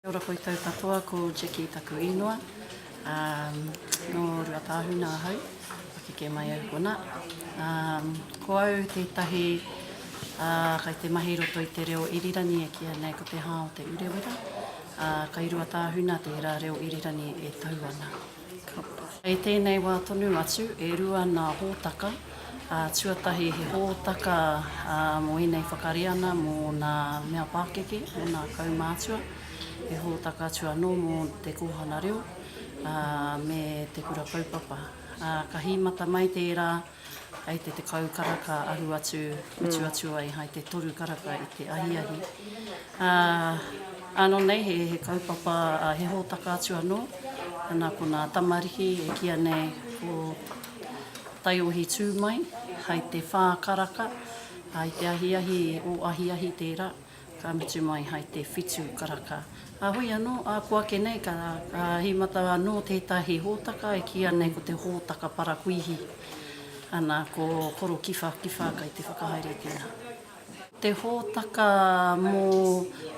Kia ora koutou katoa, ko Jackie taku īnoa, um, no Ruatāhuna ahau, pakeke mai au kona. Um, ko au tētahi uh, kai te mahi roto i te reo irirangi e kia nei ko te hā o te urewera, uh, kai Ruatāhuna tērā reo irirangi e tau ana. Kapa. I tēnei wā tonu atu, e rua nā hōtaka, ā, tuatahi he hōtaka mō ēnei whakareana mō nā mea pākeke, mō nā kaumātua, he hōtaka atu anō mō te kōhanga reo, ā, me te kura kaupapa. Ā, ka hīmata mai tērā. Hai te tekau karaka aru atu, mutu atu ai hai te toru karaka i te ahiahi. Ano nei he kaupapa, he hōtaka atu anō, ana ko nā tamariki e kīa nei ko taiohi tū mai hai te whā karaka, hai te ahiahi, o ahiahi tērā. Ka mutu mai hai te whitu karaka. Ka hui anō, āku ake nei ka hīmata anō tētahi hōtaka e kīia nei ko te hōtaka parakuihi, ana, ko Korowhiwhiwha kai te whakahaere tēnā. Te hōtaka mō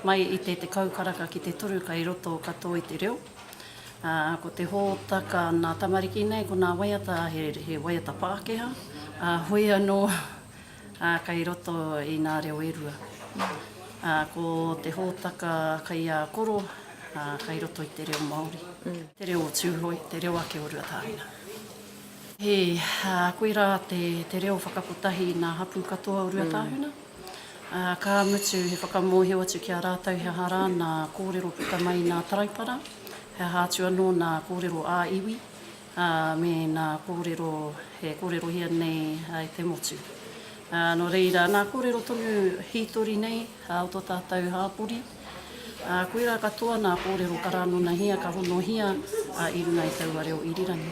mai i te tekau karaka ki te toru kai roto katoa i te reo, ā, ko te hōtaka nā tamariki nei ko nā waiata, he waiata Pākehā, ā, hoi anō, Ā, kei roto i ngā reo e rua. Ā, ko te hōtaka kei a koro, ā, kei roto i te reo Māori. Te reo o Tūhoe, te reo ake o Ruatāhuna. He, ā, koirā te, te reo whakakotahi i ngā hapū katoa o Ruatāhuna. Ā, ka mutu, he whakamōhio atu ki a rātou he aha rā ngā kōrero puta mai i ngā taraipara, he aha atu anō ngā kōrero ā-iwi, ā, me nā kōrero e kōrerohia nei i te motu. Ā, nō reira, nā kōrero tonu hītori nei o tō tātou hāpori, ā, koirā katoa nā kōrero ka rānonahia, ka honohia i runga i taua reo irirangi.